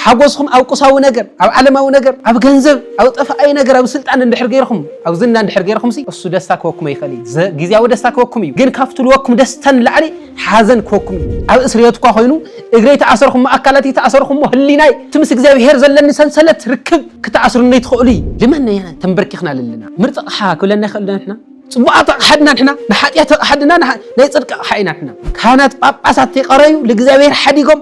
ሓጎስኹም ኣብ ቁሳዊ ነገር፣ ኣብ ዓለማዊ ነገር፣ ኣብ ገንዘብ፣ ኣብ ጠፋኣይ ነገር፣ ኣብ ስልጣን እንድሕር ገይርኹም፣ ኣብ ዝና እንድሕር ገይርኹምሲ እሱ ደስታ ክህበኩም ኣይክእል እዩ። ዘ ግዝያዊ ደስታ ክህበኩም እዩ፣ ግን ካብቲ ልበኩም ደስታ ንላዕሊ ሓዘን ክህበኩም እዩ። ኣብ እስርየት እኳ ኮይኑ እግረይ ተኣሰርኹሞ፣ ኣካላተይ ተኣሰርኹሞ፣ ህሊናይ እቲ ምስ እግዚኣብሄር ዘለኒ ሰንሰለት ርክብ ክተኣስሩኒ ትኽእሉ እዩ። ልመን ነየናይ ተንበርኪኽና ኣለና። ምርጥ ኣቕሓ ክብለና ይኽእል ዶ ንሕና? ጽቡቓት ኣቕሓ ድና ንሕና? ንሓጢኣት ኣቕሓ ድና ናይ ጽድቂ ኣቕሓ ኢና ንሕና? ካህናት ጳጳሳት ተይቐረዩ ልእግዚኣብሄር ሓዲጎም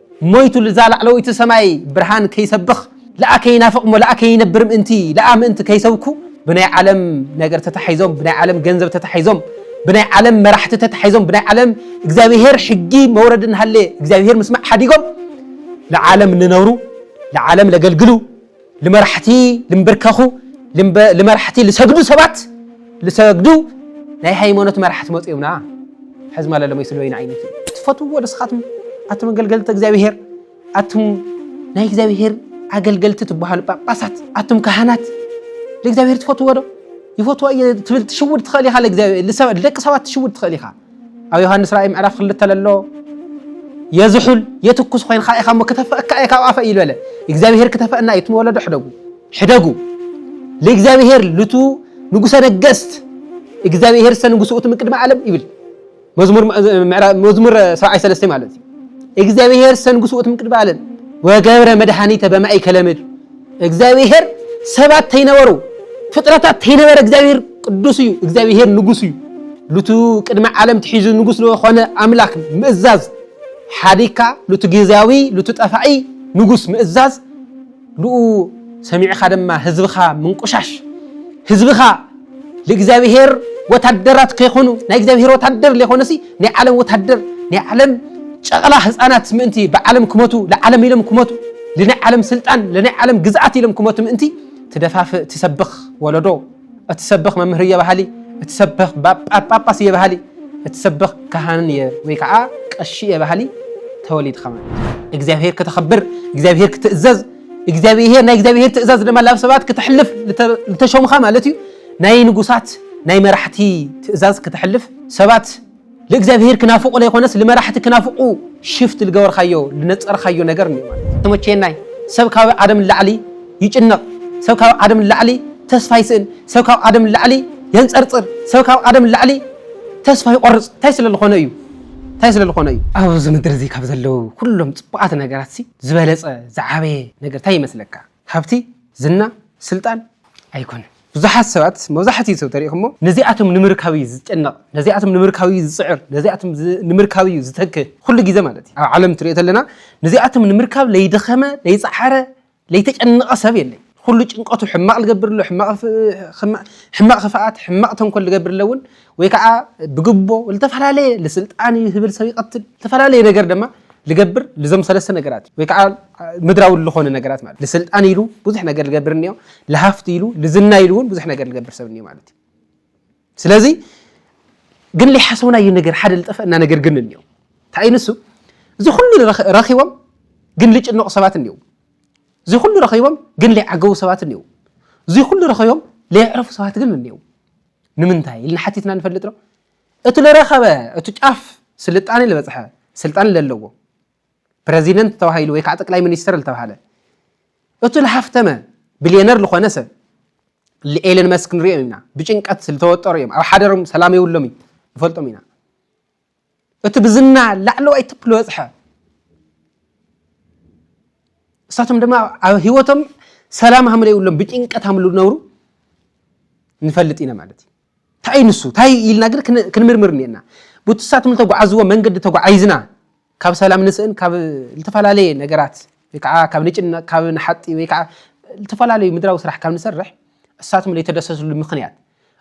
ሞይቱ ልዛ ላዕለወይቲ ሰማይ ብርሃን ከይሰብኽ ልኣ ከይናፍቕ እሞ ልኣ ከይነብር ምእንቲ ልኣ ምእንቲ ከይሰብኩ ብናይ ዓለም ነገር ተታሒዞም ብናይ ዓለም ገንዘብ ተታሒዞም ብናይ ዓለም መራሕቲ ተታሒዞም ብናይ ዓለም እግዚኣብሄር ሕጊ መውረድ እናሃለ እግዚኣብሄር ምስማዕ ሓዲጎም ልዓለም ልነብሩ ልዓለም ለገልግሉ ልመራሕቲ ልምብርከኹ ልመራሕቲ ልሰግዱ ሰባት ልሰግዱ ናይ ሃይማኖት መራሕቲ መፅኡምና ሕዚ ማለ ለመይ ስለ ወይን ዓይነት ትፈትዎ ንስኻትም ኣቱም ኣገልገልቲ እግዚኣብሄር ኣቱም ናይ እግዚኣብሄር ኣገልገልቲ ትበሃሉ ጳጳሳት ኣቱም ካህናት ንእግዚኣብሄር ትፈትዎ ዶ ይፈትዎ እየ ትብል ትሽውድ ትኽእል ኢኻ ንደቂ ሰባት ትሽውድ ትኽእል ኢኻ ኣብ ዮሃንስ ራእይ ምዕራፍ ክልተ ለሎ የዝሑል የትኩስ ኮይንካ ኢኻ እሞ ክተፈእካ እየ ካብ ኣፈ እዩ በለ እግዚኣብሄር ክተፈእና እዩ ትመወለዶ ሕደጉ ሕደጉ ለእግዚኣብሄር ልቱ ንጉሰ ነገስት እግዚኣብሄር ሰ ንጉሱ እቲ ምቅድሚ ዓለም ይብል መዝሙር መዝሙር ሰብዓይ ሰለስተ ማለት እዩ እግዚኣብሄር ሰ ንጉሱ እቲ ምቅድሚ ዓለም ወገብረ መድኃኒተ በማእከለ ምድር እግዚኣብሄር ሰባት ተይነበሩ ፍጥረታት ተይነበረ እግዚኣብሄር ቅዱስ እዩ እግዚኣብሄር ንጉስ እዩ ሉቱ ቅድሚ ዓለም ትሒዙ ንጉስ ዝኾነ ኣምላክ ምእዛዝ ሓዲካ ሉቱ ግዜያዊ ሉቱ ጠፋኢ ንጉስ ምእዛዝ ልኡ ሰሚዕኻ ድማ ህዝብኻ ምንቁሻሽ ህዝብኻ ልእግዚኣብሔር ወታደራት ከይኮኑ ናይ እግዚኣብሔር ወታደር ለይኮነሲ ናይ ዓለም ወታደር ናይ ዓለም ጨቕላ ህፃናት ምእንቲ ብዓለም ክመቱ ንዓለም ኢሎም ክመቱ ልናይ ዓለም ስልጣን ልናይ ዓለም ግዝኣት ኢሎም ክመቱ ምእንቲ ትደፋፍእ ትሰብኽ ወለዶ እትሰብኽ መምህር እየ በሃሊ እትሰብኽ ጳጳስ እየ በሃሊ እትሰብኽ ካህን እየ ወይ ከዓ ቀሺ እየ በሃሊ ተወሊድካ ማለት እግዚኣብሔር ከተኸብር እግዚኣብሔር ክትእዘዝ እግዚኣብሄር ናይ እግዚኣብሄር ትእዛዝ ድማ ላብ ሰባት ክተሕልፍ ዝተሾምኻ ማለት እዩ ናይ ንጉሳት ናይ መራሕቲ ትእዛዝ ክተሕልፍ ሰባት ልእግዚኣብሄር ክናፍቑ ለይኮነስ ልመራሕቲ ክናፍቑ ሽፍት ልገበርካዮ ልነፀርካዮ ነገር እኒኦ ማለት እዩ ተመቸየናይ ሰብ ካብ ኣደም ንላዕሊ ይጭነቕ ሰብ ካብ ኣደም ንላዕሊ ተስፋ ይስእን ሰብ ካብ ኣደም ንላዕሊ የንፀርፅር ሰብ ካብ ኣደም ንላዕሊ ተስፋ ይቆርፅ እንታይ ስለ ዝኾነ እዩ እንታይ ስለ ዝኾነ እዩ? ኣብዚ ምድሪ እዚ ካብ ዘለዉ ኩሎም ጽቡቓት ነገራትሲ ዝበለጸ ዝዓበየ ነገር እንታይ ይመስለካ? ሃብቲ፣ ዝና፣ ስልጣን ኣይኮነን። ብዙሓት ሰባት መብዛሕትኡ ሰብ ተሪእኩሞ ነዚኣቶም ንምርካብ እዩ ዝጨነቕ፣ ነዚኣቶም ንምርካብ እዩ ዝጽዕር፣ ነዚኣቶም ንምርካብ እዩ ዝተክህ፣ ኩሉ ግዜ ማለት እዩ። ኣብ ዓለም ትሪኦ ተለና ነዚኣቶም ንምርካብ ለይደኸመ ለይጸዓረ ለይተጨነቐ ሰብ የለይ ኹሉ ጭንቐቱ ሕማቕ ልገብር ኣሎ ሕማቕ ኽፍኣት ሕማቕ ተንኮል ልገብር ኣሎ እውን ወይ ከዓ ብግቦ ልተፈላለየ ልስልጣን እዩ ህብል ሰብ ይቐትል ልተፈላለየ ነገር ድማ ልገብር ልዞም ሰለስተ ነገራት እዩ ወይ ከዓ ምድራዊ ልኾነ ነገራት ማለት ልስልጣን ኢሉ ብዙሕ ነገር ልገብር እኒኦ ልሃፍቲ ኢሉ ልዝና ኢሉ እውን ብዙሕ ነገር ልገብር ሰብ እኒኦ ማለት እዩ ስለዚ ግን ሊሓሰውናዩ ነገር ሓደ ልጠፈእና ነገር ግን እኒኦ እንታይ ንሱ እዚ ኩሉ ረኪቦም ግን ልጭነቁ ሰባት እኒው እዚ ኩሉ ረኪቦም ግን ሊዓገቡ ሰባት እኒው እዚ ኩሉ ረኪቦም ለይዕረፉ ሰባት ግን እኒው ንምንታይ ኢልና ሓቲትና ንፈልጥ ዶ እቲ ለረከበ እቲ ጫፍ ስልጣኔ ዝበፅሐ ስልጣን ለለዎ ፕረዚደንት ተባሂሉ ወይ ከዓ ጠቅላይ ሚኒስትር ዝተባህለ እቱ ልሃፍተመ ቢልዮነር ልኾነ ሰብ ኤለን መስክ ንሪኦ ኢና ብጭንቀት ዝተወጠሩ እዮም ኣብ ሓደሮም ሰላም የብሎም እዩ ንፈልጦም ኢና እቲ ብዝና ላዕለዋይ ትፕ ዝበፅሐ እሳቶም ድማ ኣብ ሂወቶም ሰላም ሃምለ የብሎም ብጭንቀት ሃምሉ ነብሩ ንፈልጥ ኢና ማለት እዩ ታይ እዩ ንሱ ታይ ኢልና ግን ክንምርምር እኒኤና ብቱሳት ምልተጓዓዝዎ መንገዲ ተጓዓይዝና ካብ ሰላም ንስእን ካብ ልተፈላለየ ነገራት ወይ ከዓ ካብ ንጭነቅ ካብ ንሓጢ ወይ ከዓ ልተፈላለዩ ምድራዊ ስራሕ ካብ ንሰርሕ እሳቶም ለይተደሰስሉ ምክንያት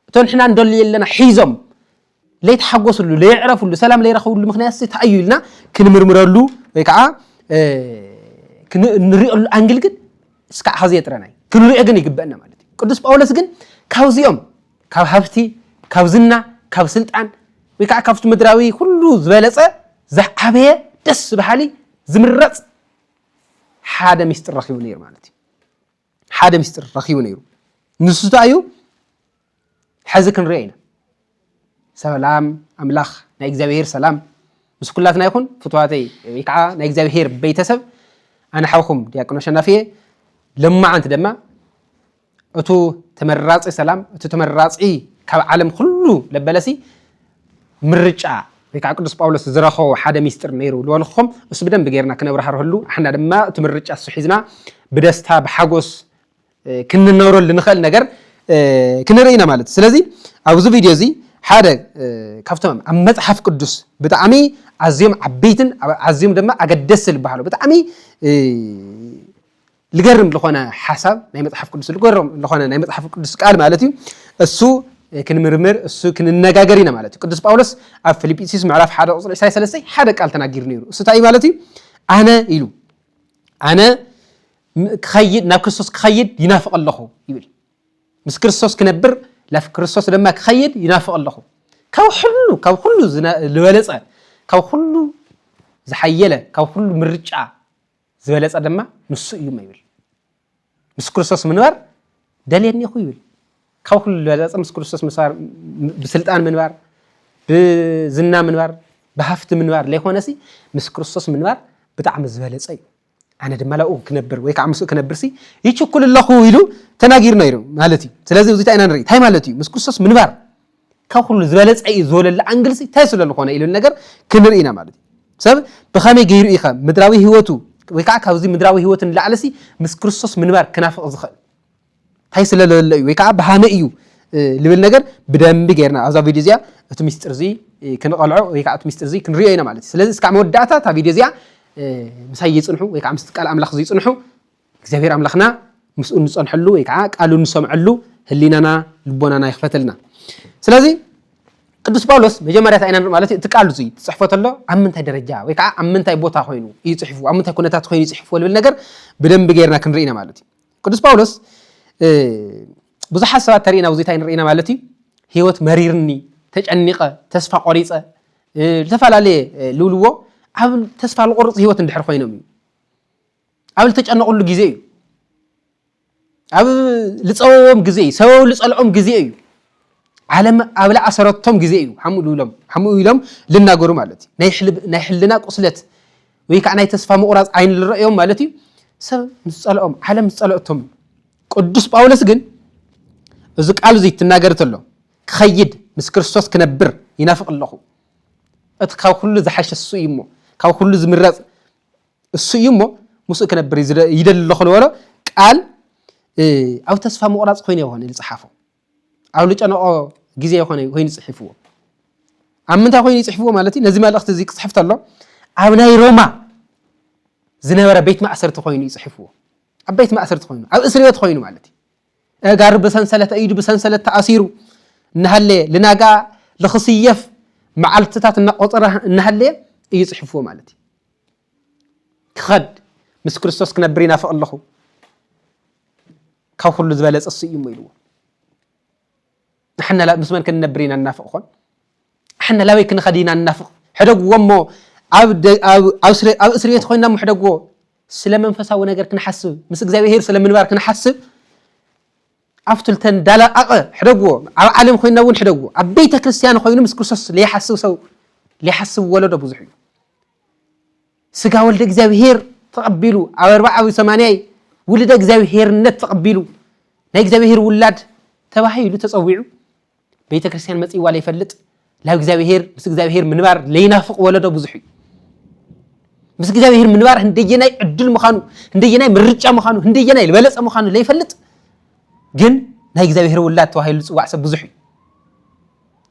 እቶ ንሕና ንደልዮ ኣለና ሒዞም ለይተሓጎስሉ ለየዕረፍሉ ሰላም ለይረኸብሉ ምክንያት ሲ ታይ እዩ ኢልና ክንምርምረሉ ወይ ከዓ ክንሪኦሉ ኣንግል ግን እስካዕ ኸዚ ጥረናይ ክንሪኦ ግን ይግበእና ማለት እዩ ቅዱስ ጳውሎስ ግን ካብዚኦም ካብ ሃብቲ ካብ ዝና ካብ ስልጣን ወይ ከዓ ካብቲ ምድራዊ ኩሉ ዝበለፀ ዝዓበየ ደስ በሃሊ ዝምረፅ ሓደ ሚስጢር ረኪቡ ነይሩ ማለት እዩ ሓደ ሚስጢር ረኪቡ ነይሩ ንሱ እንታይ እዩ ሐዚ ክንሪኦ ኢና ሰላም ኣምላኽ ናይ እግዚኣብሄር ሰላም ምስ ኩላትና ይኹን ፍትዋተይ ወይ ከዓ ናይ እግዚኣብሄር ቤተሰብ ኣነ ሓውኹም ዲያቆን ኣሸናፊ እየ ለማዓንቲ ደማ እቱ ተመራፂ ሰላም እቱ ተመራፂ ካብ ዓለም ኩሉ ለበለሲ ምርጫ ወይ ከዓ ቅዱስ ጳውሎስ ዝረኸቦ ሓደ ሚስጢር ነይሩ ዝበልኹም እሱ ብደንብ ጌርና ክነብራሃርህሉ ኣሕና ድማ እቲ ምርጫ እሱ ሒዝና ብደስታ ብሓጎስ ክንነብረሉ ንኸእል ነገር ክንርኢ ኢና ማለት እዩ ስለዚ ኣብዚ ቪድዮ እዚ ሓደ ካብቶም ኣብ መፅሓፍ ቅዱስ ብጣዕሚ ኣዝዮም ዓበይትን ኣዝዮም ድማ ኣገደስቲ ዝበሃሉ ብጣዕሚ ልገርም ዝኾነ ሓሳብ ናይ መፅሓፍ ቅዱስ ልገርም ዝኾነ ናይ መፅሓፍ ቅዱስ ቃል ማለት እዩ እሱ ክንምርምር እሱ ክንነጋገር ኢና ማለት እዩ ቅዱስ ጳውሎስ ኣብ ፊልጵስዩስ ምዕራፍ ሓደ ቁፅሪ ዕስራ ሰለስተይ ሓደ ቃል ተናጊሩ ነይሩ እሱ እንታይ ማለት እዩ ኣነ ኢሉ ኣነ ክኸይድ ናብ ክርስቶስ ክኸይድ ይናፍቕ ኣለኹ ይብል ምስ ክርስቶስ ክነብር ላፍ ክርስቶስ ድማ ክኸይድ ይናፍቕ ኣለኹ ካብ ኩሉ ካብ ኩሉ ዝበለጸ ካብ ኩሉ ዝሓየለ ካብ ኩሉ ምርጫ ዝበለጸ ድማ ንሱ እዩ ይብል ምስ ክርስቶስ ምንባር ደልየኒ ኢኹ ይብል ካብ ኩሉ ዝበለጸ ምስ ክርስቶስ ምንባር ብስልጣን ምንባር ብዝና ምንባር ብሃፍቲ ምንባር ዘይኮነሲ ምስ ክርስቶስ ምንባር ብጣዕሚ ዝበለጸ እዩ ኣነ ድማ ላብኡ ክነብር ወይ ከዓ ምስኡ ክነብርሲ ይችኩል ኣለኹ ኢሉ ተናጊሩ ነይሩ ማለት እዩ ስለዚ እዚታ ኢና ንርኢ እንታይ ማለት እዩ ምስ ክርስቶስ ምንባር ካብ ኩሉ ዝበለፀ እዩ ዝበለሉ ኣንግልሲ እንታይ ስለዝኾነ ኢሉ ነገር ክንርኢ ኢና ማለት እዩ ሰብ ብኸመይ ገይሩ ኢኸ ምድራዊ ህይወቱ ወይ ከዓ ካብዚ ምድራዊ ህይወት ንላዕለሲ ምስ ክርስቶስ ምንባር ክናፍቕ ዝኽእል ታይ ስለ ለሎ እዩ ወይ ከዓ ብሃመይ እዩ ልብል ነገር ብደንቢ ገይርና ኣብዛ ቪድዮ እዚኣ እቲ ሚስጥር እዚ ክንቐልዖ ወይ ከዓ እቲ ሚስጥር እዚ ክንሪኦ ኢና ማለት እዩ ስለዚ እስካዕ መወዳእታ እታ ቪድዮ እዚኣ ምሳይ ይፅንሑ ወይ ከዓ ምስቲ ቃል ኣምላኽ ዝይፅንሑ እግዚኣብሔር ኣምላኽና ምስኡ ንፀንሐሉ ወይ ከዓ ቃሉ ንሰምዐሉ ህሊናና ልቦናና ይኽፈተልና ስለዚ ቅዱስ ጳውሎስ መጀመርያ እንታይ ኢና ንርኢ ማለት እዩ እቲ ቃል እዚ ትፅሕፎ ተሎ ኣብ ምንታይ ደረጃ ወይ ከዓ ኣብ ምንታይ ቦታ ኮይኑ እዩ ፅሒፉ ኣብ ምንታይ ኩነታት ኮይኑ እዩ ፅሒፉ ልብል ነገር ብደንቢ ገይርና ክንርኢ ኢና ማለት እዩ ቅዱስ ጳውሎስ ብዙሓት ሰባት ተርእና ኣብዚ እንታይ ንርኢና ማለት እዩ ህይወት መሪርኒ ተጨኒቐ ተስፋ ቆሪፀ ዝተፈላለየ ልብልዎ ኣብ ተስፋ ዝቆርፅ ህይወት እንድሕር ኮይኖም እዩ ኣብ ዝተጨነቕሉ ግዜ እዩ ኣብ ልፀወዎም ግዜ እዩ ሰበብ ልፀልኦም ግዜ እዩ ዓለም ኣብ ላኣሰረቶም ግዜ እዩ ሓምኡ ኢሎም ሓምኡ ኢሎም ልናገሩ ማለት እዩ ናይ ሕልና ቁስለት ወይ ከዓ ናይ ተስፋ ምቑራፅ ዓይኒ ዝረእዮም ማለት እዩ ሰብ ምስ ፀልኦም ዓለም ምስ ፀለእቶም ቅዱስ ጳውሎስ ግን እዚ ቃል እዙይ ትናገር ተሎ ክኸይድ ምስ ክርስቶስ ክነብር ይናፍቕ ኣለኹ እቲ ካብ ኩሉ ዝሓሸ እሱ እዩ እሞ ካብ ኩሉ ዝምረፅ እሱ እዩ እሞ ምስኡ ክነብር ይደሊ ኣለኹ ዝበሎ ቃል ኣብ ተስፋ ምቑራፅ ኮይኑ ይኾነ ዝፀሓፎ ኣብ ልጨነቆ ግዜ ኮነ ኮይኑ ጽሒፍዎ ኣብ ምንታይ ኮይኑ ይጽሕፍዎ ማለት እዩ ነዚ መልእኽቲ እዚ ክጽሕፍ ተሎ ኣብ ናይ ሮማ ዝነበረ ቤት ማእሰርቲ ኮይኑ ይጽሕፍዎ ኣብ ቤት ማእሰርቲ ኮይኑ ኣብ እስር ቤት ኮይኑ ማለት እዩ እጋሩ ብሰንሰለት ኢዱ ብሰንሰለት ተኣሲሩ እናሃለየ ልናጋ ልኽስየፍ መዓልትታት እናቆፀረ እናሃለየ እዩ ጽሕፍዎ ማለት እዩ ክኸድ ምስ ክርስቶስ ክነብር ይናፍቕ ኣለኹ ካብ ኩሉ ዝበለጸ እሱ እዩ እሞ ኢልዎ ንሕና ምስ መን ክንነብር ኢና ንናፍቕ ኾን ንሕና ላበይ ክንኸድ ኢና ንናፍቕ ሕደግዎ እሞ ኣብ እስሪ ቤት ኮይና እሞ ሕደግዎ ስለ መንፈሳዊ ነገር ክንሓስብ ምስ እግዚኣብሄር ስለ ምንባር ክንሓስብ ኣብቲ ልተን ዳላቐቐ ሕደግዎ ኣብ ዓለም ኮይና እውን ሕደግዎ ኣብ ቤተ ክርስትያን ኮይኑ ምስ ክርስቶስ ለይሓስብ ሰው ለይሓስብ ወለዶ ብዙሕ እዩ ስጋ ወልደ እግዚኣብሔር ተቐቢሉ ኣብ ኣርባዓዊ ሰማንያይ ውልደ እግዚኣብሔርነት ተቐቢሉ ናይ እግዚኣብሔር ውላድ ተባሂሉ ተፀዊዑ ቤተ ክርስቲያን መፅዋ ለይፈልጥ ላብ እግዚኣብሔር ምስ እግዚኣብሔር ምንባር ለይናፍቕ ወለዶ ብዙሕ እዩ ምስ እግዚኣብሔር ምንባር ህንደየናይ ዕድል ምዃኑ ህንደየናይ ምርጫ ምዃኑ ህንደየናይ ዝበለፀ ምዃኑ ለይፈልጥ ግን ናይ እግዚኣብሔር ውላድ ተባሂሉ ዝፅዋዕ ሰብ ብዙሕ እዩ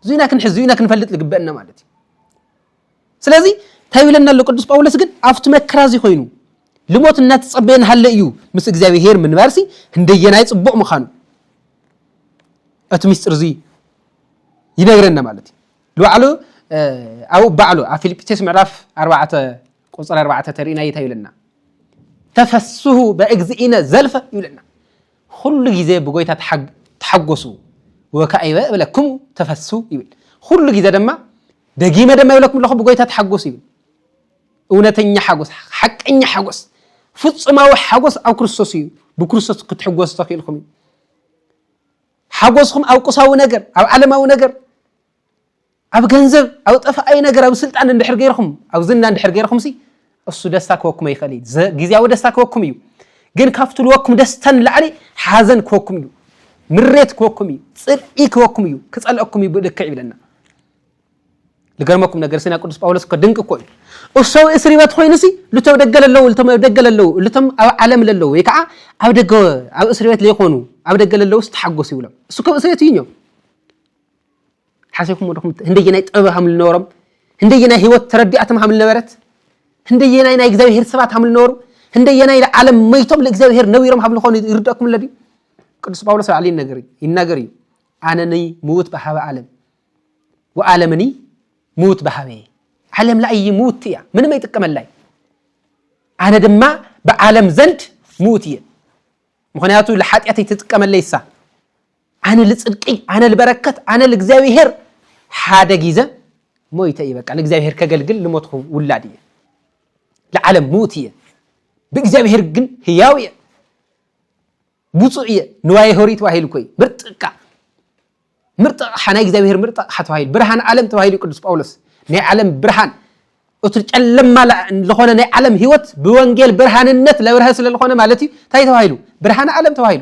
እዙ ኢና ክንሕዝ እዙ ኢና ክንፈልጥ ዝግበአና ማለት እዩ ስለዚ እንታይ ይብለና ኣሎ ቅዱስ ጳውሎስ ግን ኣብቲ መከራ እዚ ኮይኑ ልሞት እናተጸበየ ንሃለ እዩ ምስ እግዚኣብሄር ምንባርሲ ህንደየናይ ጽቡቕ ምዃኑ እቲ ምስጢር እዚ ይነግረና ማለት እዩ ንባዕሉ ኣብ ባዕሉ ኣብ ፊልጵስዩስ ምዕራፍ ኣርባዕተ ቁፅሪ ኣርባዕተ ተርእና ይታ ይብለና ተፈስሁ በእግዚእነ ዘልፈ ይብለና ኹሉ ጊዜ ብጎይታ ተሓጎሱ ወካኢበ እብለክሙ ተፈሱ ይብል ኹሉ ጊዘ ደማ ደጊመ ደማ ይብለኩም ኣለኹ ብጎይታ ተሓጎሱ ይብል እውነተኛ ሓጎስ ሓቀኛ ሓጎስ ፍጹማዊ ሓጎስ ኣብ ክርስቶስ እዩ ብክርስቶስ ክትሕጎሱ ተኽኢልኩም እዩ ሓጎስኹም ኣብ ቁሳዊ ነገር ኣብ ዓለማዊ ነገር ኣብ ገንዘብ ኣብ ጠፋኣይ ነገር ኣብ ስልጣን እንድሕር ገይርኩም ኣብ ዝና እንድሕር ገይርኩም ሲ እሱ ደስታ ክወኩም ይኽእል እዩ ዘ- ግዝያዊ ደስታ ክወኩም እዩ ግን ካብ ትልወኩም ደስታ ንላዕሊ ሓዘን ክወኩም እዩ ምሬት ክወኩም እዩ ጽልኢ ክወኩም እዩ ክጸልአኩም እዩ ብልክዕ ይብለና ልገርመኩም ነገር ሲና ቅዱስ ጳውሎስ እኮ ድንቅ እኮ እዩ እሱ ኣብ እስሪ ቤት ኮይኑ ሲ ልቶም ደገ ለለዉ ልቶም ኣብ ደገ ለለዉ ልቶም ኣብ ዓለም ለለዉ ወይ ከዓ ኣብ ደገ ኣብ እስሪ ቤት ለይኮኑ ኣብ ደገ ለለዉ ሲ ተሓጎሱ ይብሎም እሱ ከም እስሪ ቤት እዩ እኞ ሓሲብኩሞ ዲኹም ህንደየናይ ጥበብ ሃም ዝነበሮም ህንደየናይ ህይወት ተረዲኣቶም ሃም ዝነበረት ህንደየናይ ናይ እግዚኣብሄር ሰባት ሃም ዝነበሩ ህንደየናይ ንዓለም መይቶም ንእግዚኣብሄር ነቢሮም ሃም ዝኾኑ ይርደእኩም ኣሎ ድዩ ቅዱስ ጳውሎስ ባዕሉ ይነገር እዩ ይናገር እዩ ኣነኒ ምውት ብሃበ ዓለም ወዓለምኒ ምውት ብሃበ እየ ዓለም ላይ ምውት እያ ምንም ኣይጥቀመላይ ኣነ ድማ ብዓለም ዘንድ ምውት እየ ምክንያቱ ንሓጢኣት ኣይትጥቀመለይ እሳ ኣነ ልጽድቂ ኣነ ልበረከት ኣነ ልእግዚኣብሄር ሓደ ጊዘ ሞይተ እየ በቃ ንእግዚኣብሄር ከገልግል ልሞትኩ ውላድ እየ ልዓለም ምዉት እየ ብእግዚኣብሄር ግን ህያው እየ ብፁእ እየ ንዋየ ሆሪ ተባሂሉ ኮይ ምርጥቃ ምርጥቅ ሓናይ እግዚኣብሔር ምርጥቅ ሓተባሂሉ ብርሃን ዓለም ተባሂሉ ቅዱስ ጳውሎስ ናይ ዓለም ብርሃን እቲ ጨለማ ዝኾነ ናይ ዓለም ህይወት ብወንጌል ብርሃንነት ለብርሀ ስለዝኾነ ማለት እዩ እንታይ ተባሂሉ ብርሃን ዓለም ተባሂሉ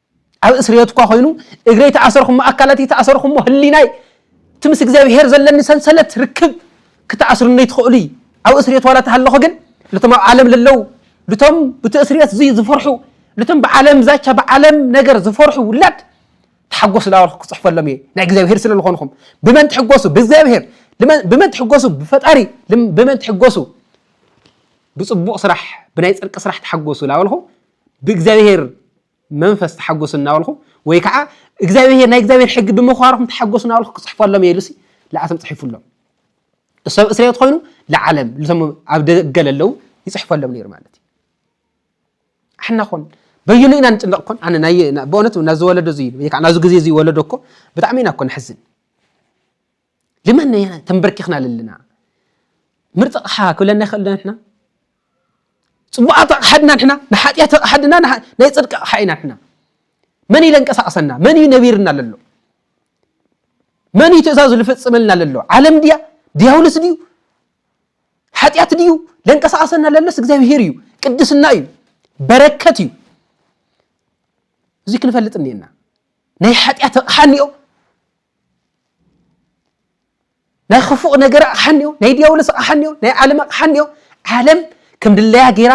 ኣብ እስርየት እኳ ኮይኑ እግረይ ተኣሰርኩሞ ኣካላተይ ተኣሰርኩሞ ህሊናይ እቲ ምስ እግዚኣብሄር ዘለኒ ሰንሰለት ርክብ ክተኣስርኒ ትኽእሉ እዩ ኣብ እስርየት ዋላ ተሃለኹ ግን ልቶም ኣብ ዓለም ለለው ልቶም ብቲ እስርየት እዙይ ዝፈርሑ ልቶም ብዓለም ዛቻ ብዓለም ነገር ዝፈርሑ ውላድ ተሓጎሱ ላበልኩ ክፅሕፈሎም እየ ናይ እግዚኣብሄር ስለ ዝኾንኹም ብመን ትሕጎሱ ብእግዚኣብሄር ብመን ትሕጎሱ ብፈጣሪ ብመን ትሕጎሱ ብፅቡቕ ስራሕ ብናይ ፅርቂ ስራሕ ተሓጎሱ ላበልኹ ብእግዚኣብሄር መንፈስ ተሓጎሱ እናበልኹ ወይ ከዓ እግዚኣብሔር ናይ እግዚኣብሔር ሕጊ ብምኽባርኹም ተሓጎሱ እናበልኹ ክፅሕፈሎም እየ ኢሉሲ ለኣቶም ፅሒፉሎም እሰብ እስራኤል ኮይኑ ለዓለም ልቶም ኣብ ደገ ለለው ይፅሕፈሎም ነይሩ ማለት እዩ ኣሕና ኮን በይኑ ኢና ንጭነቕ ኮን ኣነ ናይ በእውነት ናዚ ወለዶ እዚ ወይ ከዓ ናዚ ግዜ እዚ ወለዶ እኮ ብጣዕሚ ኢና እኮ ንሕዝን ልመና ኢና ተንበርኪኽና ለለና ምርጥ ኣቕሓ ክብለና ይኽእል ዶ ንሕና ፅቡቃት ኣቕሓ ድና ንሕና ንሓጢኣት ኣቕሓ ድና ናይ ፅድቂ ኣቕሓ ኢና ንሕና መን እዩ ለንቀሳቀሰና መን እዩ ነቢርና ለሎ መን እዩ ትእዛዙ ዝፍፅመልና ለሎ ዓለም ድያ ድያውልስ ድዩ ሓጢኣት ድዩ ለንቀሳቀሰና ለሎስ እግዚኣብሄር እዩ ቅድስና እዩ በረከት እዩ እዚ ክንፈልጥ እኒኤና ናይ ሓጢኣት ኣቕሓ እኒኦ ናይ ክፉእ ነገር ኣቕሓ እኒኦ ናይ ዲያብሎስ ኣቕሓ እኒኦ ናይ ዓለም ኣቕሓ እኒኦ ዓለም ከም ድለያ ገይራ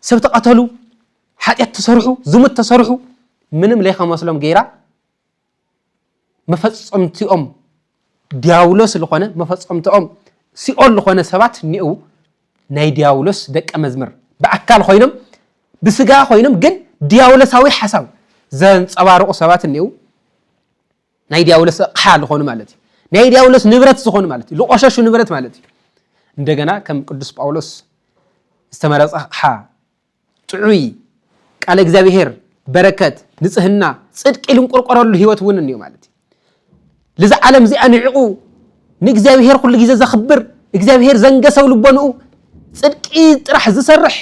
ሰብ ተቐተሉ ሓጢኣት ተሰርሑ ዝሙት ተሰርሑ ምንም ለይከመስሎም ገይራ መፈፀምቲኦም ዲያብሎስ ዝኾነ መፈፀምቲኦም ሲኦል ዝኾነ ሰባት እኒኡ ናይ ዲያብሎስ ደቀ መዝምር ብኣካል ኮይኖም ብስጋ ኮይኖም ግን ዲያብሎሳዊ ሓሳብ ዘንፀባርቑ ሰባት እኒኡ ናይ ዲያብሎስ ኣቕሓ ዝኾኑ ማለት እዩ። ናይ ዲያብሎስ ንብረት ዝኾኑ ማለት እዩ። ዝቆሸሹ ንብረት ማለት እዩ። እንደገና ከም ቅዱስ ጳውሎስ ዝተመረጸ ኣቕሓ ጥዑይ ቃለ እግዚኣብሔር በረከት ንጽህና ጽድቂ ልንቆርቆረሉ ህይወት እውን እንዮ ማለት እዩ። ልዚ ዓለም እዚኣ ንዕቑ ንእግዚኣብሔር ኩሉ ግዜ ዘኽብር እግዚኣብሔር ዘንገሰው ልቦንኡ ጽድቂ ጥራሕ ዝሰርሕ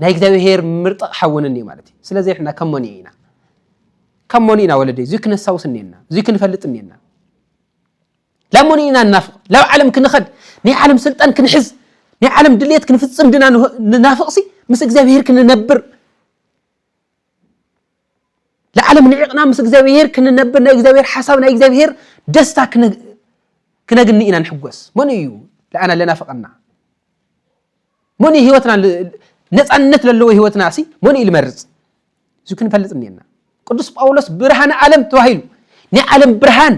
ናይ እግዚኣብሔር ምርጢ ኣቕሓ እውን እንዮ ማለት እዩ። ስለዚ ሕና ከመን ኢና ካብ ሞኒ ኢና ወለደይ እዙይ ክነሳውስ እኒኤና እዙይ ክንፈልጥ እኒኤና ላብ ሞኒ ኢና ንናፍቕ ላብ ዓለም ክንኸድ ናይ ዓለም ስልጣን ክንሕዝ ናይ ዓለም ድልየት ክንፍፅም ድና ንናፍቕሲ ምስ እግዚኣብሄር ክንነብር ንዓለም ንዒቕና ምስ እግዚኣብሄር ክንነብር ናይ እግዚኣብሄር ሓሳብ ናይ እግዚኣብሄር ደስታ ክነግኒ ኢና ንሕጎስ መን እዩ ለኣና ለናፍቐና መን እዩ ህይወትና ነፃነት ዘለዎ ህይወትና ሲ መን እዩ ልመርፅ እዚ ክንፈልጥ እኒና ቅዱስ ጳውሎስ ብርሃን ዓለም ተባሂሉ ናይ ዓለም ብርሃን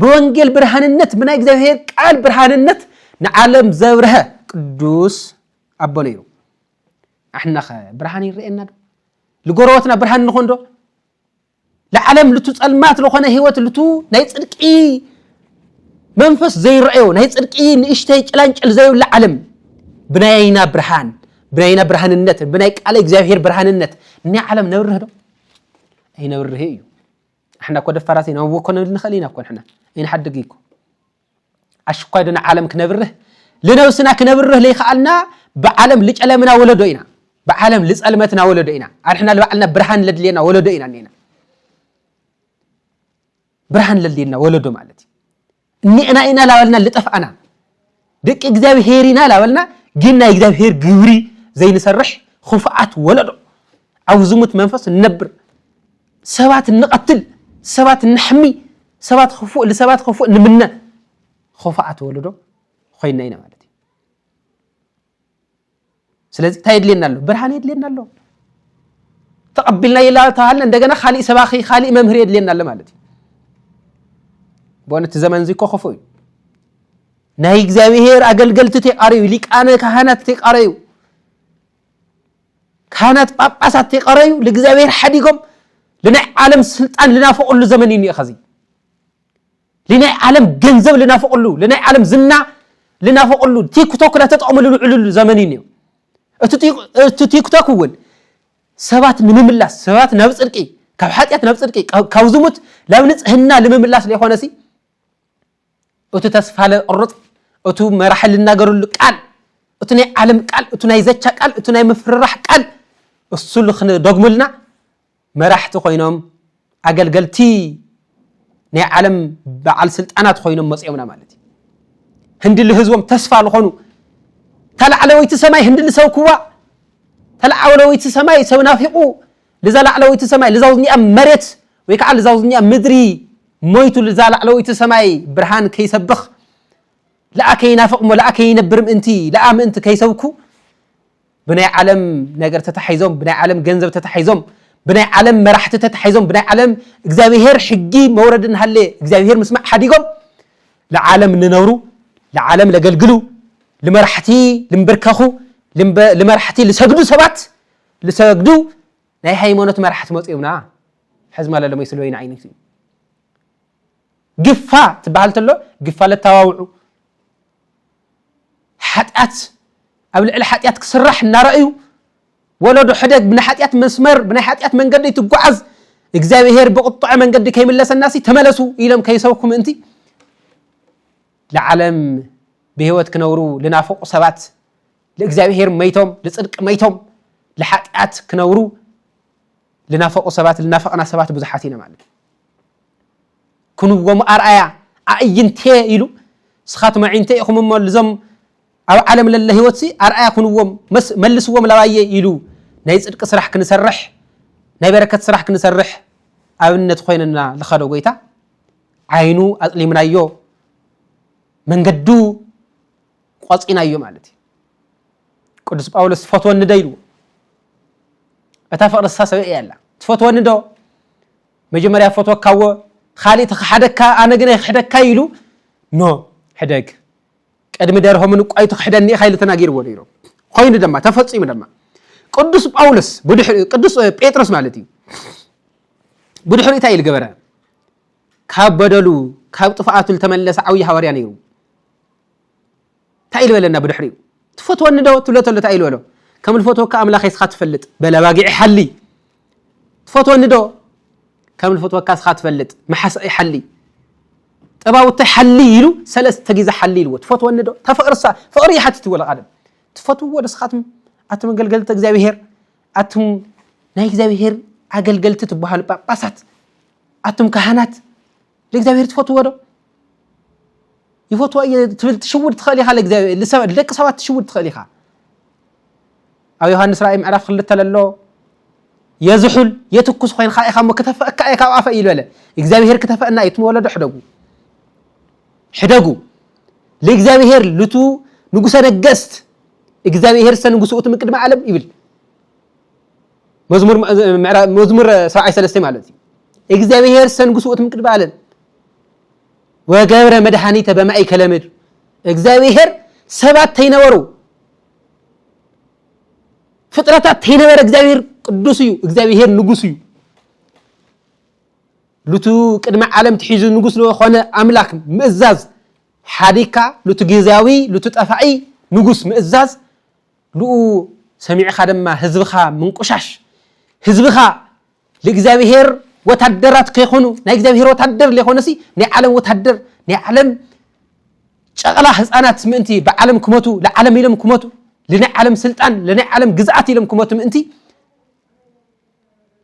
ብወንጌል ብርሃንነት ብናይ እግዚኣብሔር ቃል ብርሃንነት ንዓለም ዘብርሀ ቅዱስ ኣቦ ነይሩ ኣሕናኸ ብርሃን ይረአየና ዶ ንጎረበትና ብርሃን ንኾን ዶ ለዓለም ልቱ ጸልማት ለኾነ ህይወት ልቱ ናይ ጽድቂ መንፈስ ዘይረአዮ ናይ ጽድቂ ንእሽተይ ጭላንጭል ዘይብላ ዓለም ብናይ ኣይና ብርሃን ብናይ ኣይና ብርሃንነት ብናይ ቃለ እግዚኣብሔር ብርሃንነት ናይ ዓለም ነብርህ ዶ ኣይነብርህ እዩ ንሕና እኮ ደፋራት ኢና ወኮነ ንኽእል ኢና እኮ ንሕና ኣይንሓድግ እኮ ኣሽኳይ ዶ ንዓለም ክነብርህ ልነብስና ክነብርህ ለይከኣልና ብዓለም ልጨለምና ወለዶ ኢና ብዓለም ልጸልመትና ወለዶ ኢና ኣንሕና ልባዕልና ብርሃን ለድልየና ወለዶ ኢና እኒና ብርሃን ለድልየና ወለዶ ማለት እዩ እኒዕና ኢና ላበልና ልጠፍኣና ደቂ እግዚኣብሄር ኢና ላበልና ግን ናይ እግዚኣብሄር ግብሪ ዘይንሰርሕ ክፉኣት ወለዶ ኣብ ዝሙት መንፈስ ንነብር ሰባት እንቐትል፣ ሰባት እነሕሚ፣ ሰባት ክፉእ ንሰባት ክፉእ ንምነ ኹፋኣት ወለዶ ኮይና ኢና ማለት እዩ። ስለዚ እንታይ የድልየና ኣሎ? ብርሃን የድልየና ኣሎ። ተቐቢልና ይላ ተባሃልና እንደገና ካሊእ ሰባኺ ካሊእ መምህር የድልየና ኣሎ ማለት እዩ። በእውነት ዘመን እዚ እኮ ክፉእ እዩ። ናይ እግዚኣብሄር ኣገልገልቲ ተቃረዩ፣ ሊቃነ ካህናት ተቃረዩ። ካህናት ጳጳሳት ተይቀረዩ ልእግዚኣብሔር ሓዲጎም ልናይ ዓለም ስልጣን ልናፈቕሉ ዘመን እዩ እኒኦ ኸዚ ልናይ ዓለም ገንዘብ ልናፈቕሉ ልናይ ዓለም ዝና ልናፈቕሉ ቲክቶክ ናተጠቕሙ ልውዕልሉ ዘመን እዩ እኒኦ እቲ ቲክቶክ እውን ሰባት ንምምላስ ሰባት ናብ ፅድቂ ካብ ሓጢኣት ናብ ፅድቂ ካብ ዝሙት ናብ ንፅህና ንምምላስ ለይኮነሲ እቱ ተስፋ ለቕርፅ እቱ መራሒ ልናገርሉ ቃል እቱ ናይ ዓለም ቃል እቱ ናይ ዘቻ ቃል እቱ ናይ ምፍርራሕ ቃል እሱ ልክንደግሙልና መራሕቲ ኮይኖም ኣገልገልቲ ናይ ዓለም በዓል ስልጣናት ኮይኖም መፅኦምና ማለት እዩ ህንዲ ልህዝቦም ተስፋ ልኾኑ ተላዕለወይቲ ሰማይ ህንዲ ልሰብክዋ ተላዕለወይቲ ሰማይ ሰብ ናፊቑ ልዛ ላዕለወይቲ ሰማይ ልዛውዝኒኣ መሬት ወይ ከዓ ልዛውዝኛ ምድሪ ሞይቱ ልዛ ላዕለወይቲ ሰማይ ብርሃን ከይሰብኽ ለኣ ከይናፍቕ እሞ ለኣ ከይነብር ምእንቲ ለኣ ምእንቲ ከይሰብኩ ብናይ ዓለም ነገር ተታሒዞም ብናይ ዓለም ገንዘብ ተታሒዞም ብናይ ዓለም መራሕቲ ተታሒዞም ብናይ ዓለም እግዚኣብሄር ሕጊ መውረድ እናሃለ እግዚኣብሄር ምስማዕ ሓዲጎም ልዓለም ልነብሩ ልዓለም ለገልግሉ ልመራሕቲ ልምብርከኹ ልመራሕቲ ልሰግዱ ሰባት ልሰግዱ ናይ ሃይማኖት መራሕቲ መፅዮምና ሕዚ ማለ ለመይ ስለወይኒ ዓይነቱ እዩ ግፋ ትበሃል ተሎ ግፋ ለታዋውዑ ሓጢኣት ኣብ ልዕሊ ሓጢኣት ክስራሕ እናረእዩ ወለዶ ሕደግ ብናይ ሓጢኣት መስመር ብናይ ሓጢኣት መንገዲ ትጓዓዝ እግዚኣብሄር ብቁጥዐ መንገዲ ከይምለሰና ሲ ተመለሱ ኢሎም ከይሰብኩ ምእንቲ ንዓለም ብሂወት ክነብሩ ልናፍቑ ሰባት ልእግዚኣብሄር መይቶም ልጽድቂ መይቶም ልሓጢኣት ክነብሩ ልናፈቁ ሰባት ልናፈቅና ሰባት ብዙሓት ኢና ማለት ክንዎም ኣርኣያ ኣእይንቴ ኢሉ ስኻትም ኣዒንተ ኢኹም እሞ ልዞም ኣብ ዓለም ለለ ህይወትሲ ኣርኣያ ክንዎም መልስዎም ላባየ ኢሉ ናይ ጽድቂ ስራሕ ክንሰርሕ ናይ በረከት ስራሕ ክንሰርሕ ኣብነት ኮይንና ልኸዶ ጎይታ ዓይኑ ኣጥሊምናዮ መንገዱ ቆጺናዮ ማለት እዩ ቅዱስ ጳውሎስ ትፈትወኒ ዶ ኢልዎ እታ ፍቕሪ ንሳ ሰበ እያ ኣላ ትፈትወኒ ዶ መጀመርያ ፈትወካዎ ካልእ ተክሓደካ ኣነ ግን ኣይክሕደካ ኢሉ ኖ ሕደግ ቅድሚ ደርሆ ምንቋዩ ትክሕደኒ ኢኻ ኢሉ ተናጊርዎ ነይሩ ኮይኑ ድማ ተፈፂሙ ድማ ቅዱስ ጳውሎስ ቅዱስ ጴጥሮስ ማለት እዩ ብድሕሪ እንታይ ኢሉ ገበረ ካብ በደሉ ካብ ጥፍኣቱ ዝተመለሰ ዓብዪ ሃዋርያ ነይሩ እንታይ ኢሉ በለና ብድሕሪኡ ትፈትወኒ ዶ ትብሎ ተሎ እንታይ ኢሉ በሎ ከም ልፈትወካ ኣምላኸይ ስኻ ትፈልጥ በል ኣባጊዕ ሓሊ ትፈትወኒ ዶ ከም ልፈትወካ ስኻ ትፈልጥ መሓሳኢ ሓሊ ጠባውተይ ሓሊ ኢሉ ሰለስተ ግዜ ሓሊ ኢልዎ ትፈትወኒ ዶ ተፍቕርሳ ፍቕሪ ይሓትት ወለ ቃደም ትፈትውዎ ዶ ስኻትም ኣቱም ኣገልገልቲ እግዚኣብሄር ኣቱም ናይ እግዚኣብሄር ኣገልገልቲ ትበሃሉ ጳጳሳት ኣቱም ካህናት ንእግዚኣብሔር ትፈትዎ ዶ? ይፈትዎ እየ ትብል ትሽውድ ትኽእል ኢኻ ንደቂ ሰባት ትሽውድ ትኽእል ኢኻ። ኣብ ዮሃንስ ራእይ ምዕራፍ ክልተ ለሎ የዝሑል የትኩስ ኮይንካ ኢኻ እሞ ክተፈእካ እየ ካብ ኣፈ ይበለ እግዚኣብሔር ክተፈእና እዩ ትመወለዶ ሕደጉ ሕደጉ ለእግዚኣብሔር ልቱ ንጉሰ ነገስት እግዚኣብሔር ሰ ንጉስኡት ምቅድሚ ዓለም ይብል መዝሙር ሰብዓይ ሰለስተ ማለት እዩ እግዚኣብሔር ሰንጉስኡት ምቅድሚ ዓለም ወገብረ መድኃኒተ በማእከለ ምድር እግዚኣብሔር ሰባት ተይነበሩ ፍጥረታት ተይነበረ እግዚኣብሔር ቅዱስ እዩ እግዚኣብሔር ንጉስ እዩ ሉቱ ቅድሚ ዓለም ትሒዙ ንጉስ ዝኾነ ኣምላክ ምእዛዝ ሓዲካ ሉቱ ግዜያዊ ሉቱ ጠፋዒ ንጉስ ምእዛዝ ንኡ ሰሚዕኻ ድማ ህዝብኻ ምንቁሻሽ ህዝብኻ ልእግዚኣብሔር ወታደራት ከይኾኑ ናይ እግዚኣብሔር ወታደር ለይኾነሲ ናይ ዓለም ወታደር ናይ ዓለም ጨቕላ ህፃናት ምእንቲ ብዓለም ክመቱ ንዓለም ኢሎም ክመቱ ልናይ ዓለም ስልጣን ልናይ ዓለም ግዝኣት ኢሎም ክመቱ ምእንቲ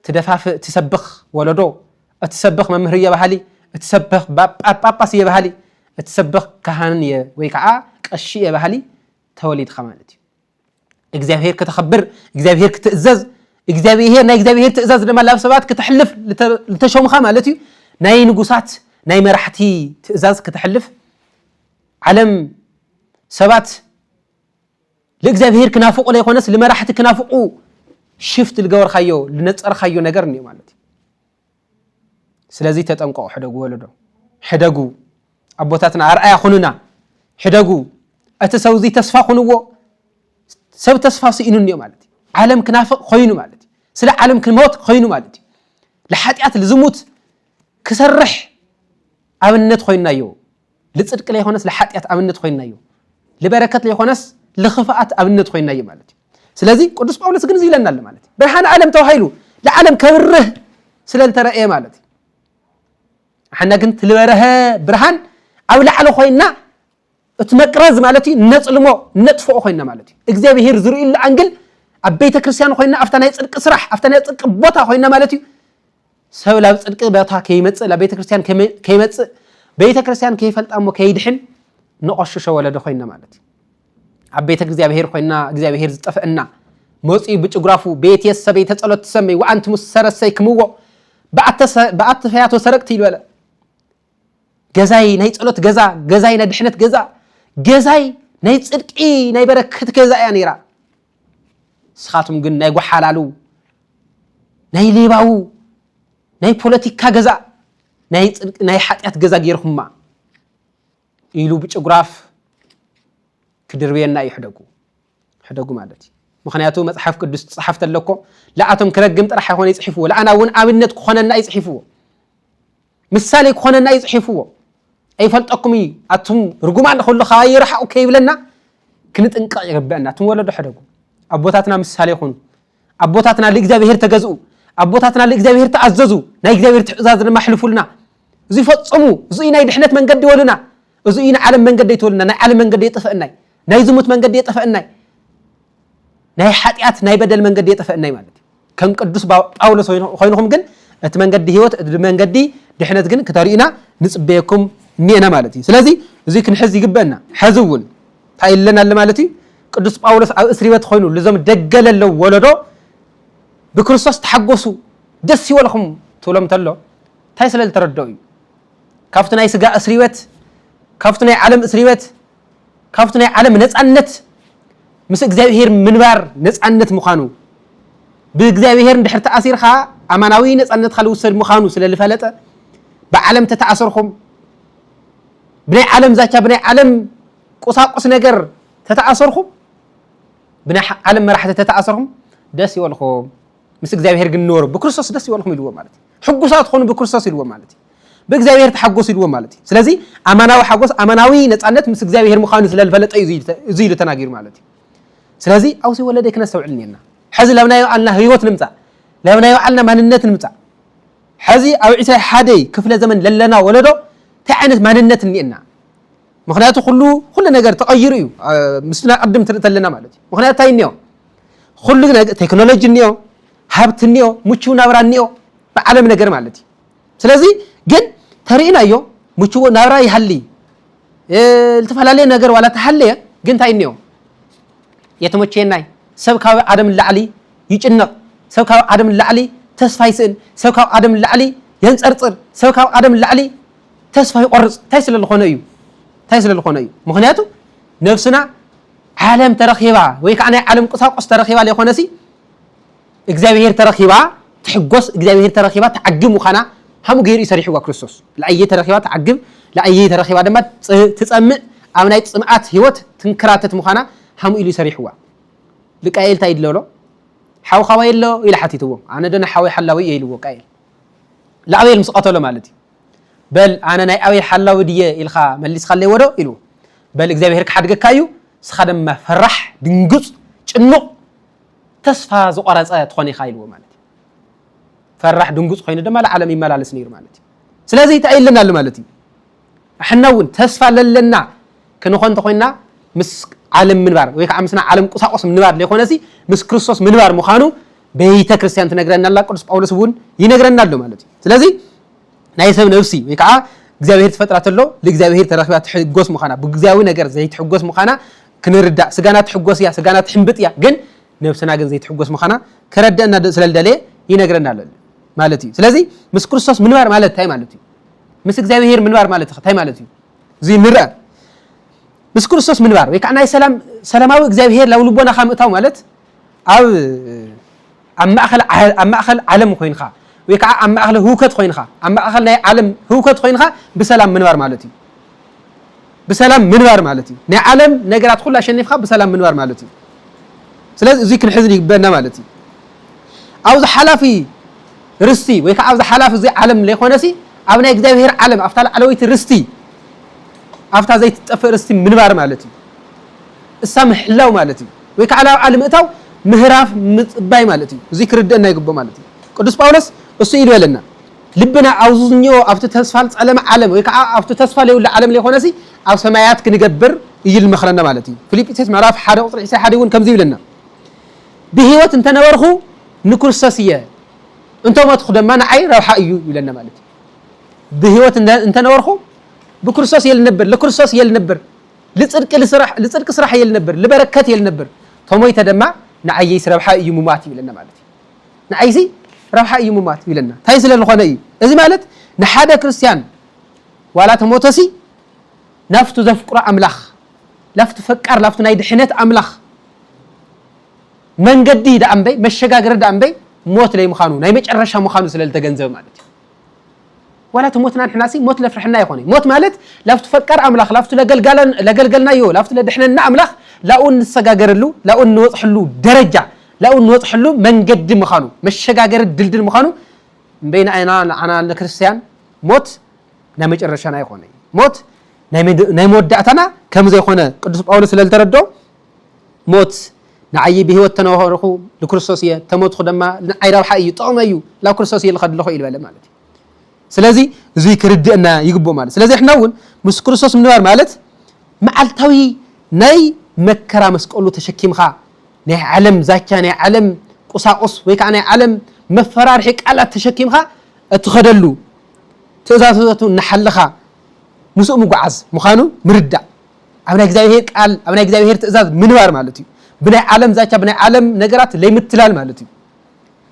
ትደፋፍእ ትሰብኽ ወለዶ እቲ ሰብኽ መምህር እየ በሃሊ እቲ ሰብኽ ጳጳስ እየ በሃሊ እቲ ሰብኽ ካህን እየ ወይ ከዓ ቀሺ እየ በሃሊ ተወሊድካ ማለት እዩ እግዚኣብሄር ከተኸብር እግዚኣብሄር ክትእዘዝ እግዚኣብሄር ናይ እግዚኣብሄር ትእዛዝ ድማ ላብ ሰባት ክትሕልፍ ዝተሾምኻ ማለት እዩ ናይ ንጉሳት ናይ መራሕቲ ትእዛዝ ክትሕልፍ ዓለም ሰባት ንእግዚኣብሄር ክናፍቑ ዘይኮነስ ንመራሕቲ ክናፍቑ ሽፍት ዝገበርካዮ ዝነፀርካዮ ነገር እኒኦ ማለት እዩ ስለዚ ተጠንቀቑ ሕደጉ ወለዶ ሕደጉ ኣቦታትና ኣርኣያ ኩኑና ሕደጉ እቲ ሰው እዚ ተስፋ ኩንዎ ሰብ ተስፋ ስኢኑ እኒኦ ማለት እዩ ዓለም ክናፍቕ ኮይኑ ማለት እዩ ስለ ዓለም ክሞት ኮይኑ ማለት እዩ ንሓጢኣት ልዝሙት ክሰርሕ ኣብነት ኮይንናዮ ልጽድቂ ለይኮነስ ለሓጢኣት ኣብነት ኮይናዮ፣ ልበረከት ለይኮነስ ልክፍኣት ኣብነት ኮይናዮ ማለት እዩ። ስለዚ ቅዱስ ጳውሎስ ግን እዚ ኢለና ኣሎ ማለት እዩ። ብርሃን ዓለም ተባሂሉ ንዓለም ከብርህ ስለ ዝተረእየ ማለት እዩ። ሓና ግን ትልበረሀ ብርሃን ኣብ ላዕሊ ኮይና እቲ መቅረዝ ማለት እዩ ነጽልሞ ነጥፍኦ ኮይና ማለት እዩ። እግዚኣብሄር ዝርእዩሉ ኣንግል ኣብ ቤተ ክርስቲያን ኮይና ኣብታ ናይ ጽድቂ ስራሕ ኣብታ ናይ ጽድቂ ቦታ ኮይና ማለት እዩ ሰብ ላብ ጽድቂ በታ ከይመጽእ ላብ ቤተክርስትያን ከይመጽእ ቤተክርስትያን ከይፈልጣ እሞ ከይድሕን ንቆሽሾ ወለዶ ኮይና ማለት እዩ ኣብ ቤተ እግዚኣብሔር ኮይና እግዚኣብሔር ዝጠፍእና መጽኡ ብጭጉራፉ ቤት የሰበይ ተጸሎት ትሰመይ ወኣንቲ ምስ ሰረሰይ ክምዎ ብኣተ ፈያቶ ሰረቅቲ ይበለ ገዛይ ናይ ጸሎት ገዛ ገዛይ ናይ ድሕነት ገዛ ገዛይ ናይ ጽድቂ ናይ በረከት ገዛ እያ ነይራ ንስኻትኩም ግን ናይ ጓሓላሉ ናይ ሌባው ናይ ፖለቲካ ገዛ ናይ ፅድቂ ናይ ሓጢኣት ገዛ ገይርኩማ ኢሉ ብጭጉራፍ ክድርብየና እዩ ሕደጉ ሕደጉ ማለት እዩ ምክንያቱ መፅሓፍ ቅዱስ ትፅሓፍ ተለኮ ለኣቶም ክረግም ጥራሕ ኣይኮነ ይፅሒፍዎ ለኣና እውን ኣብነት ክኾነና ይፅሒፍዎ ምሳሌ ክኾነና እዩ ጽሒፍዎ ኣይፈልጠኩም እዩ ኣቱም ርጉማን ኩሉ ካባይ ርሓቁ ከይብለና ክንጥንቀቅ ይግበአና ኣቱም ወለዶ ሕደጉ ኣቦታትና ምሳሌ ኩኑ ኣቦታትና ልእግዚኣብሔር ተገዝኡ ኣቦታትና ልእግዚኣብሔር ተኣዘዙ ናይ እግዚኣብሔር ትእዛዝ ድማ ኣሕልፉልና እዚ ፈጽሙ እዚ ናይ ድሕነት መንገዲ ወሉና እዚ እዩ ንዓለም መንገዲ ኣይትበሉና ናይ ዓለም መንገዲ የጠፈእናይ ናይ ዝሙት መንገዲ የጠፈእናይ ናይ ሓጢኣት ናይ በደል መንገዲ የጠፈእናይ ማለት እዩ ከም ቅዱስ ጳውሎስ ኮይንኹም ግን እቲ መንገዲ ህይወት እቲ መንገዲ ድሕነት ግን ክተርእዩና ንፅበየኩም እኒኤና ማለት እዩ ስለዚ እዚ ክንሕዝ ይግበአና ሕዚ እውን እንታይ ኢለና ኣሎ ማለት እዩ ቅዱስ ጳውሎስ ኣብ እስሪ ቤት ኮይኑ ልዞም ደገ ለለው ወለዶ ብክርስቶስ ተሓጎሱ ደስ ይበልኹም ትብሎም ተሎ እንታይ ስለ ዝተረድኦ እዩ ካብቲ ናይ ስጋ እስሪበት ካብቲ ናይ ዓለም እስሪበት ካብቲ ናይ ዓለም ነፃነት ምስ እግዚኣብሄር ምንባር ነፃነት ምዃኑ ብእግዚኣብሄር እንድሕር ተኣሲርካ ኣማናዊ ነፃነትካ ልውሰድ ምዃኑ ስለ ልፈለጠ ብዓለም ተተኣሰርኩም ብናይ ዓለም ዛቻ ብናይ ዓለም ቁሳቁስ ነገር ተተኣሰርኩም ብናይ ዓለም መራሕቲ ተተኣሰርኩም ደስ ይበልኩም ምስ እግዚኣብሔር ግን ንበሩ ብክርስቶስ ደስ ይበልኩም ኢልዎ ማለት እዩ ሕጉሳት ኾኑ ብክርስቶስ ኢልዎ ማለት እዩ ብእግዚኣብሔር ተሓጎሱ ኢልዎ ማለት እዩ ስለዚ ኣማናዊ ሓጎስ ኣማናዊ ነፃነት ምስ እግዚኣብሔር ምዃኑ ስለዝፈለጠ እዩ እዚ ኢሉ ተናጊሩ ማለት እዩ ስለዚ ኣውሲ ወለደ ክነስተውዕል እኒና ሕዚ ለብናዮ ኣልና ህይወት ንምፃእ ለብናዮ ዓልና ማንነት ንምፃእ ሕዚ ኣብ ዕስራይ ሓደይ ክፍለ ዘመን ለለና ወለዶ እንታይ ዓይነት ማንነት እኒኤና ምክንያቱ ኩሉ ኩሉ ነገር ተቐይሩ እዩ ምስ ናይ ቅድም ትርኢ ተለና ማለት እዩ ምክንያቱ እንታይ እኒኦ ኩሉ ቴክኖሎጂ እኒኦ ሃብቲ እኒኦ ምቹው ናብራ እኒኦ ብዓለም ነገር ማለት እዩ ስለዚ ግን ተርእናዮ ምችዎ ናብራ ይሃሊ ዝተፈላለየ ነገር ዋላ ተሃለየ ግን እንታይ እኒኦ የተመቸየናይ ሰብ ካብ ዓደም ላዕሊ ይጭነቕ ሰብ ካብ ዓደም ላዕሊ ተስፋ ይስእን ሰብ ካብ ዓደም ላዕሊ የንፀርፅር ሰብ ካብ ዓደም ላዕሊ ተስፋ ይቆርጽ እንታይ ስለ ዝኾነ እዩ እንታይ ስለ ዝኾነ እዩ ምክንያቱ ነብስና ዓለም ተረኺባ ወይ ከዓ ናይ ዓለም ቁሳቁስ ተረኺባ ዘይኮነሲ እግዚኣብሄር ተረኺባ ትሕጎስ እግዚኣብሄር ተረኺባ ትዓግብ ምዃና ሃሙ ገይሩ እዩ ሰሪሕዋ ክርስቶስ ለኣየ ተረኺባ ትዓግብ ለኣየ ተረኺባ ድማ ትፀምእ ኣብ ናይ ፅምኣት ህይወት ትንከራተት ምዃና ሃሙ ኢሉ ይሰሪሕዋ ልቃኤል እንታይ ይድለሎ ሓውኻዋ የሎ ኢለ ሓቲትዎ ኣነ ዶ ንሓወይ ሓላዊ እየ ኢልዎ ቃኤል ንኣቤል ምስ ቀተሎ ማለት እዩ በል ኣነ ናይ ኣበይ ሓላዊ ድየ ኢልካ መሊስካለይዎዶ ኢሉ በል እግዚኣብሄር ክሓድገካ እዩ ንስካ ድማ ፈራሕ ድንጉፅ ጭኑቕ ተስፋ ዝቆረፀ ትኾን ኢኻ ኢልዎ ማለት እዩ ፈራሕ ድንጉፅ ኮይኑ ድማ ንዓለም ይመላለስ ነይሩ ማለት እዩ ስለዚ እንታይ ኣለና ኣሎ ማለት እዩ ኣሕና እውን ተስፋ ለለና ክንኾ እንተኮይንና ምስ ዓለም ምንባር ወይ ከዓ ምስና ዓለም ቁሳቁስ ምንባር ዘይኮነሲ ምስ ክርስቶስ ምንባር ምዃኑ ቤተ ክርስቲያን ትነግረና ኣላ ቅዱስ ጳውሎስ እውን ይነግረና ኣሎ ማለት እዩ ስለዚ ናይ ሰብ ነብሲ ወይ ከዓ እግዚኣብሄር ትፈጥራ ተሎ ንእግዚኣብሄር ተረኪባ ትሕጎስ ምዃና ብግዚያዊ ነገር ዘይትሕጎስ ምዃና ክንርዳእ ስጋና ትሕጎስ እያ ስጋና ትሕምብጥ እያ ግን ነብስና ግን ዘይትሕጎስ ምዃና ከረድአና ስለ ዝደለየ ይነግረና ኣሎ ማለት እዩ ስለዚ ምስ ክርስቶስ ምንባር ማለት እንታይ ማለት እዩ ምስ እግዚኣብሄር ምንባር ማለት እንታይ ማለት እዩ እዚ ንርአ ምስ ክርስቶስ ምንባር ወይ ከዓ ናይ ሰላም ሰላማዊ እግዚኣብሄር ላብ ልቦናኻ ምእታው ማለት ኣብ ኣብ ማእከል ኣብ ማእከል ዓለም ኮይንካ ወይ ከዓ ኣብ ማእከል ህውከት ኮይንካ ኣብ ማእከል ናይ ዓለም ህውከት ኮይንካ ብሰላም ምንባር ማለት እዩ። ብሰላም ምንባር ማለት እዩ። ናይ ዓለም ነገራት ኩሉ ኣሸኒፍካ ብሰላም ምንባር ማለት እዩ። ስለዚ እዙይ ክንሕዝን ይግበና ማለት እዩ። ኣብዚ ሓላፊ ርስቲ ወይ ከዓ ኣብዚ ሓላፊ እዚ ዓለም ዘይኮነሲ ኣብ ናይ እግዚኣብሄር ዓለም ኣብታ ላዕለወይቲ ርስቲ ኣብታ ዘይትጠፍእ ርስቲ ምንባር ማለት እዩ። እሳ ምሕላው ማለት እዩ። ወይ ከኣ ናብ ዓሊ ምእታው ምህራፍ ምጽባይ ማለት እዩ እዚ ክርድእና ይግብኦ ማለት እዩ ቅዱስ ጳውሎስ እሱ ኢሉ በለና ልብና ኣውዝዝኞ ኣብቲ ተስፋ ልጸለመ ዓለም ወይ ከኣ ኣብቲ ተስፋ ለይብሉ ዓለም ለይኮነሲ ኣብ ሰማያት ክንገብር እዩ ልመኽረና ማለት እዩ ፊልጵስዩስ ምዕራፍ ሓደ ቁጽሪ ዕስራ ሓደ እውን ከምዚ ይብለና ብህይወት እንተነበርኹ ንክርስቶስ እየ እንተ ሞትኹ ደማ ንዓይ ረብሓ እዩ ይብለና ማለት እዩ ብህይወት እንተነበርኹ ብክርስቶስ እየ ልነብር ለክርስቶስ እየ ልነብር ልጽድቂ ልስራሕ ልጽድቂ ስራሕ እየ ልነብር ልበረከት እየ ልነብር ተሞይተ ደማ ንዓይይስ ረብሓይ እዩ ምሟት ይብለና ማለት እዩ ንዓይሲ ረብሓይ እዩ ምሟት ይብለና ታይ ስለ ልኾነ እዩ እዚ ማለት ንሓደ ክርስትያን ዋላ ተሞተሲ ናፍቱ ዘፍቅሮ ኣምላኽ ላፍቱ ፈቃር ላፍቱ ናይ ድሕነት ኣምላኽ መንገዲ ደኣ እምበይ መሸጋገሪ ደኣ እምበይ ሞት ለይ ምዃኑ ናይ መጨረሻ ምዃኑ ስለ ልተገንዘበ ማለት እዩ ዋላ ተሞትና ንሕናሲ ሞት ለፍርሐና ይኮነ ሞት ማለት ላብቱ ፈቃር ኣምላክ ላብቱ ለገልገልናዮ ላብቱ ለድሕነና ኣምላክ ላኡ እንሰጋገረሉ ላኡ እንወጽሐሉ ደረጃ ላኡ እንወጽሐሉ መንገዲ ምካኑ መሸጋገሪ ድልድል ምካኑ እምበይናኣና ንዓና ንክርስትያን ሞት ናይ መጨረሻና ይኮነ ሞት ናይ መወዳእታና ከምዘይኮነ ቅዱስ ጳውሎስ ስለልተረድኦ ሞት ንዓዪ ብህይወት ተነሆርኹ ልክርስቶስ እየ ተሞትኹ ደማ ንዓይ ረብሓ እዩ ጥቕመ እዩ ላብ ክርስቶስ እየ ልኸድ ለኹ ኢልበለ ማለት እዩ ስለዚ እዙይ ክርድእና ይግብኦ ማለት ስለዚ ሕና እውን ምስ ክርስቶስ ምንባር ማለት መዓልታዊ ናይ መከራ መስቀሉ ተሸኪምኻ ናይ ዓለም ዛቻ ናይ ዓለም ቁሳቁስ ወይ ከዓ ናይ ዓለም መፈራርሒ ቃላት ተሸኪምኻ እትኸደሉ ትእዛዘቱ እናሓለኻ ምስኡ ምጓዓዝ ምዃኑ ምርዳእ ኣብ ናይ እግዚኣብሔር ቃል ኣብ ናይ እግዚኣብሔር ትእዛዝ ምንባር ማለት እዩ ብናይ ዓለም ዛቻ ብናይ ዓለም ነገራት ለይምትላል ማለት እዩ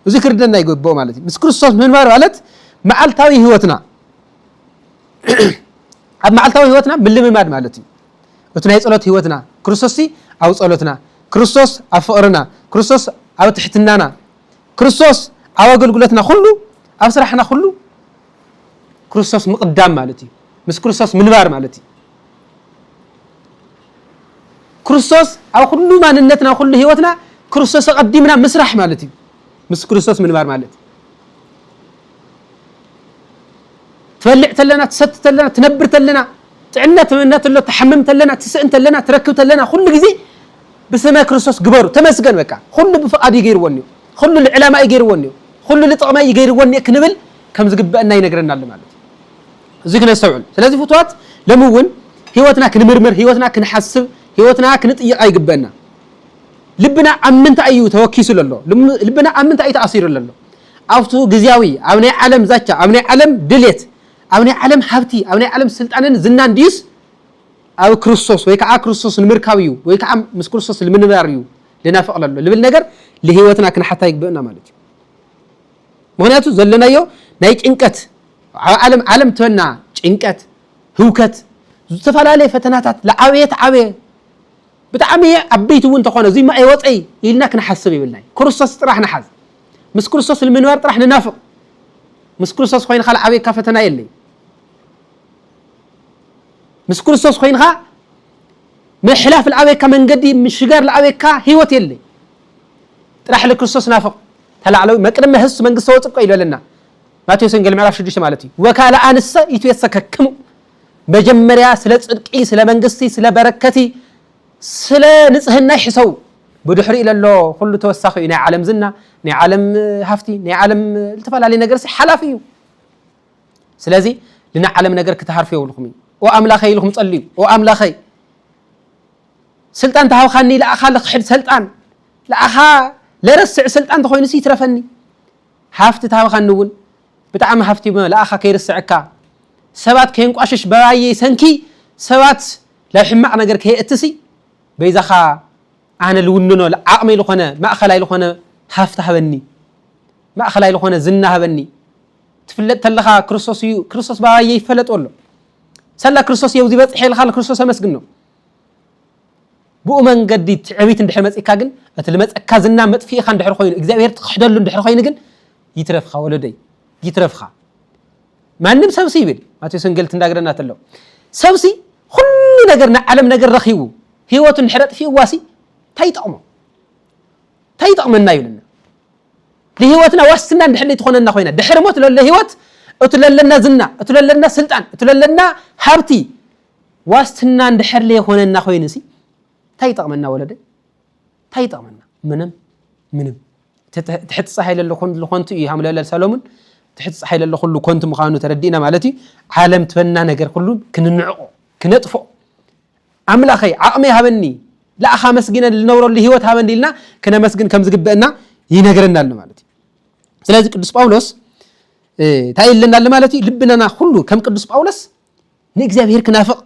እዚ ክርደና ይገበኦ ማለት እዩ ምስ ክርስቶስ ምንባር ማለት መዓልታዊ ህይወትና ኣብ መዓልታዊ ህይወትና ምልምማድ ማለት እዩ እቲ ናይ ፀሎት ህይወትና ክርስቶስ ኣብ ፀሎትና ክርስቶስ ኣብ ፍቅርና ክርስቶስ ኣብ ትሕትናና ክርስቶስ ኣብ ኣገልግሎትና ኩሉ ኣብ ስራሕና ኩሉ ክርስቶስ ምቕዳም ማለት እዩ። ምስ ክርስቶስ ምንባር ማለት እዩ። ክርስቶስ ኣብ ኩሉ ማንነትና ኩሉ ህይወትና ክርስቶስ ኣቐዲምና ምስራሕ ማለት እዩ። ምስ ክርስቶስ ምንባር ማለት ትበልዕ ተለና ትሰቲ ተለና ትነብር ተለና ጥዕና ትምነ ተሎ ትሓምም ተለና ትስእን ተለና ትረክብ ተለና ኩሉ ግዜ ብስመ ክርስቶስ ግበሩ ተመስገን በቃ ኩሉ ብፍቓድ እዩ ገይርዎ እኒኦ ኩሉ ልዕላማ እዩ ገይርዎ እኒኦ ኩሉ ልጥቕመይ እዩ ገይርዎ እኒኦ ክንብል ከም ዝግበአና ይነግረና ኣሎ ማለት እዩ እዚ ክነስተውዕል ስለዚህ ፍትዋት ሎሚ እውን ህይወትና ክንምርምር ህይወትና ክንሓስብ ህይወትና ክንጥይቃ ይግበአና ልብና ኣብ ምንታይ እዩ ተወኪሱ ዘሎ ልብና ኣብ ምንታይ እዩ ተኣሲሩ ዘሎ ኣብቱ ግዝያዊ ኣብ ናይ ዓለም ዛቻ፣ ኣብ ናይ ዓለም ድሌት፣ ኣብ ናይ ዓለም ሃብቲ፣ ኣብ ናይ ዓለም ስልጣንን ዝናን ድዩስ ኣብ ክርስቶስ ወይ ከኣ ክርስቶስ ንምርካብ እዩ ወይ ከኣ ምስ ክርስቶስ ልምንባር እዩ ልናፍቕ ለሎ ልብል ነገር ልህይወትና ክንሓታ ይግብእና ማለት እዩ። ምክንያቱ ዘለናዮ ናይ ጭንቀት ኣብ ዓለም ዓለም ትበና ጭንቀት፣ ህውከት፣ ዝተፈላለየ ፈተናታት ልዓበየ ተዓበየ ብጣዕሚ ዓበይቲ እውን እንተኾነ እዙይ እሞ ኣይወፀይ ኢልና ክንሓስብ የብልናይ። ክርስቶስ ጥራሕ ንሓዝ። ምስ ክርስቶስ ንምንባር ጥራሕ ንናፍቕ። ምስ ክርስቶስ ኾይንኻ ልዓብየካ ፈተና የለይ። ምስ ክርስቶስ ኾይንኻ ምሕላፍ ልዓብየካ መንገዲ ምሽጋር ልዓብየካ ህይወት የለይ። ጥራሕ ልክርስቶስ ናፍቕ። እታ ላዕለዊ መቅድመ ህሱ መንግስተ ወፅቆ ኢሉ ኣለና። ማቴዎስ ወንጌል ምዕራፍ ሽዱሽተ ማለት እዩ። ወካልኣንሰ ይትዌሰከክሙ መጀመርያ ስለ ጽድቂ ስለ መንግስቲ ስለ በረከቲ ስለ ንጽህና ይሕሰቡ ብድሕሪኡ ለሎ ኩሉ ተወሳኺ እዩ ናይ ዓለም ዝና ናይ ዓለም ሃፍቲ ናይ ዓለም ዝተፈላለዩ ነገር ሲ ሓላፊ እዩ ስለዚ ንናይ ዓለም ነገር ክትሃርፉ የብልኩም እዩ ኦ ኣምላኸይ ኢልኩም ጸልዩ ኦ ኣምላኸይ ስልጣን ተሃብኻኒ ለኣኻ ልክሕድ ሰልጣን ለኣኻ ለረስዕ ስልጣን ተኾይኑ ሲ ይትረፈኒ ሃፍቲ ተሃብኻኒ እውን ብጣዕሚ ሃፍቲ መልኣኻ ከይርስዐካ ሰባት ከየንቋሽሽ በባየይ ሰንኪ ሰባት ላብ ሕማቅ ነገር ከየእቲ ሲ በይዛኻ ኣነ ልውንኖ ዓቅመይ ልኾነ ማእኸላይ ልኾነ ሃፍቲ ሃበኒ ማእኸላይ ልኾነ ዝና ሃበኒ ትፍለጥ ተለኻ ክርስቶስ እዩ ክርስቶስ ባባየ ይፈለጥ ኣሎ ሰላ ክርስቶስ እየውዚ በፅሐ ኢልካ ክርስቶስ ኣመስግኖ ብኡ መንገዲ ትዕቢት እንድሕር መጺካ ግን እቲ ልመጸካ ዝና መጥፊኢኻ እንድሕር ኮይኑ እግዚኣብሔር ትኽሕደሉ እንድሕር ኮይኑ ግን ይትረፍኻ ወለደይ ይትረፍኻ ማንም ሰብሲ ይብል ማቴዎስ ወንጌል ትንዳግረና ተሎ ሰብሲ ኩሉ ነገር ናይ ዓለም ነገር ረኺቡ ህይወቱ እንድሕር ኣጥፊእዋሲ እንታይ ይጠቕሞ እንታይ ይጠቕመና ይብለና ንህይወትና ዋስትና እንድሕር ትኾነና ኮይና ድሕሪ ሞት ለሎ ህይወት እቲ ለለና ዝና እቲ ለለና ስልጣን እቲ ለለና ሃብቲ ዋስትና እንድሕር ለይኾነና ኮይኑ ሲ እንታይ ይጠቕመና ወለደይ እንታይ ይጠቕመና ምንም ምንም ትሕቲ ፀሓይ ለለ ኩሉ ኮንቱ እዩ ሃምለለ ሰሎሙን ትሕቲ ፀሓይ ለለ ኩሉ ኮንቱ ምዃኑ ተረዲእና ማለት እዩ ዓለም ትበና ነገር ኩሉ ክንንዕቆ ክነጥፎ ኣምላኸይ ዓቕሚ ሃበኒ ለኣኻ መስጊነ ዝነብረሉ ሂወት ሃበኒ ኢልና ክነመስግን ከም ዝግበአና ይነግረና ኣሎ ማለት እዩ ስለዚ ቅዱስ ጳውሎስ እንታይ ኣለና ኣሎ ማለት እዩ ልብናና ኩሉ ከም ቅዱስ ጳውሎስ ንእግዚኣብሔር ክናፍቕ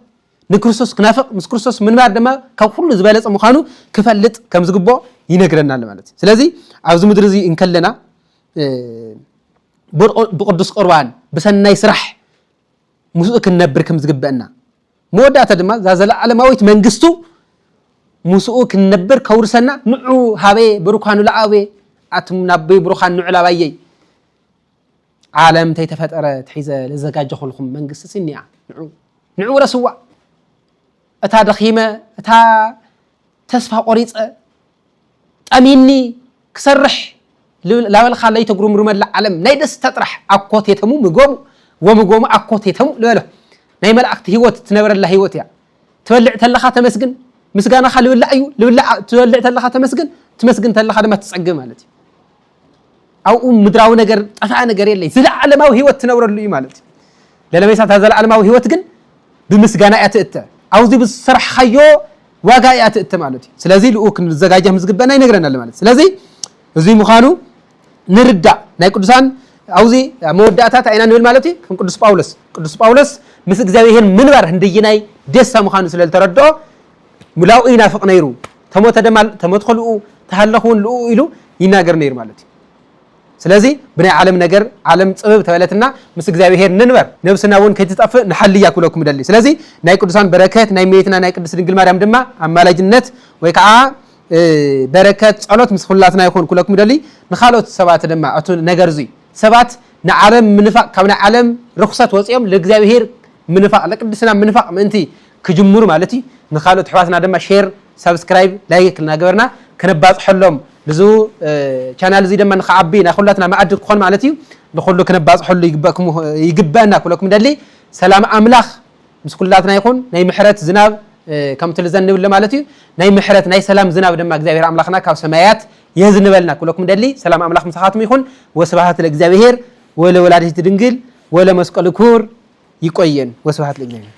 ንክርስቶስ ክናፍቕ ምስ ክርስቶስ ምንባር ድማ ካብ ኩሉ ዝበለጸ ምዃኑ ክፈልጥ ከም ዝግብኦ ይነግረና ኣሎ ማለት እዩ ስለዚ ኣብዚ ምድሪ እዚ እንከለና ብቅዱስ ቁርባን ብሰናይ ስራሕ ምስኡ ክንነብር ከም ዝግበአና መወዳእታ ድማ እዛ ዘለዓለማዊት መንግስቱ ምስኡ ክንነብር ከውርሰና ንዑ ሃበየ ብሩካኑ ለኣበየ ኣቱም ናበይ ብሩኻን ንዑ ላባየይ ዓለም ተይተፈጠረ ትሒዘ ለዘጋጀኹልኩም መንግስቲ ሲኒኣ ንዑ ንዑ ረስዋ እታ ደኺመ እታ ተስፋ ቆሪፀ ጠሚኒ ክሰርሕ ላበልካ ለይተጉርምርመላ ዓለም ናይ ደስታ ጥራሕ ኣኮቴተሙ ምጎሙ ወምጎሙ ኣኮቴተሙ ልበሎ ናይ መላእክቲ ህይወት ትነበረላ ህይወት እያ ትበልዕ ተለኻ ተመስግን ምስጋናኻ ልብላዕ እዩ ልብላዕ ትበልዕ ተለኻ ተመስግን ትመስግን ተለኻ ድማ ትፀግብ ማለት እዩ ኣብኡ ምድራዊ ነገር ጠፍኣ ነገር የለይ ዘለዓለማዊ ህይወት ትነብረሉ እዩ ማለት እዩ ለለመይሳ እታ ዘለዓለማዊ ህይወት ግን ብምስጋና እያ ትእተ ኣብዚ ብዝሰራሕካዮ ዋጋ እያ ትእተ ማለት እዩ ስለዚ ልኡ ክንዘጋጀ ዝግበና ይነግረና ኣሎ ማለት ስለዚ እዚ ምዃኑ ንርዳእ ናይ ቅዱሳን ኣብዚ መወዳእታ እንታይ ኢና ንብል ማለት እዩ ከም ቅዱስ ጳውሎስ ቅዱስ ጳውሎስ ምስ እግዚኣብሄር ምንባር ህንደየናይ ደስታ ምዃኑ ስለ ዝተረድኦ ምልኣኡ ይናፍቕ ነይሩ። ተሞተ ደማ ተሞት ከልኡ ተሃለኽ እውን ልኡ ኢሉ ይናገር ነይሩ ማለት እዩ። ስለዚ ብናይ ዓለም ነገር ዓለም ጽብብ ተበለትና ምስ እግዚኣብሔር ንንበር ነብስና እውን ከይትጠፍእ ንሓልያ ክብለኩም እደሊ። ስለዚ ናይ ቅዱሳን በረከት ናይ እመቤትና ናይ ቅድስት ድንግል ማርያም ድማ ኣማላጅነት ወይ ከዓ በረከት ጸሎት ምስ ኩላትና ይኹን ክብለኩም እደሊ። ንካልኦት ሰባት ድማ እቲ ነገር እዙይ ሰባት ንዓለም ምንፋቅ ካብ ናይ ዓለም ርኩሰት ወፂኦም ለእግዚኣብሔር ምንፋቅ ለቅድስና ምንፋቅ ምእንቲ ክጅምሩ ማለት እዩ ንካልኦት ኣሕዋትና ድማ ሼር ሳብስክራይብ ላይክ እናገበርና ከነባፅሐሎም ንዙ ቻናል እዙይ ድማ ንክዓቢ ናይ ኩላትና መኣዲ ክኾን ማለት እዩ ንኩሉ ክነባፅሐሉ ይግበእና ክብለኩም ደሊ ሰላም ኣምላኽ ምስ ኩላትና ይኹን ናይ ምሕረት ዝናብ ከምቲ ልዘንብለ ማለት እዩ ናይ ምሕረት ናይ ሰላም ዝናብ ድማ እግዚኣብሔር ኣምላኽና ካብ ሰማያት የዝንበልና ክብለኩም ደሊ ሰላም ኣምላኽ ምሳኻትም ይኹን ወስብሃት ለእግዚኣብሔር ወለወላዲት ድንግል ወለመስቀሉ ክቡር ይቆየን ወስብሃት ለእግዚኣብሔር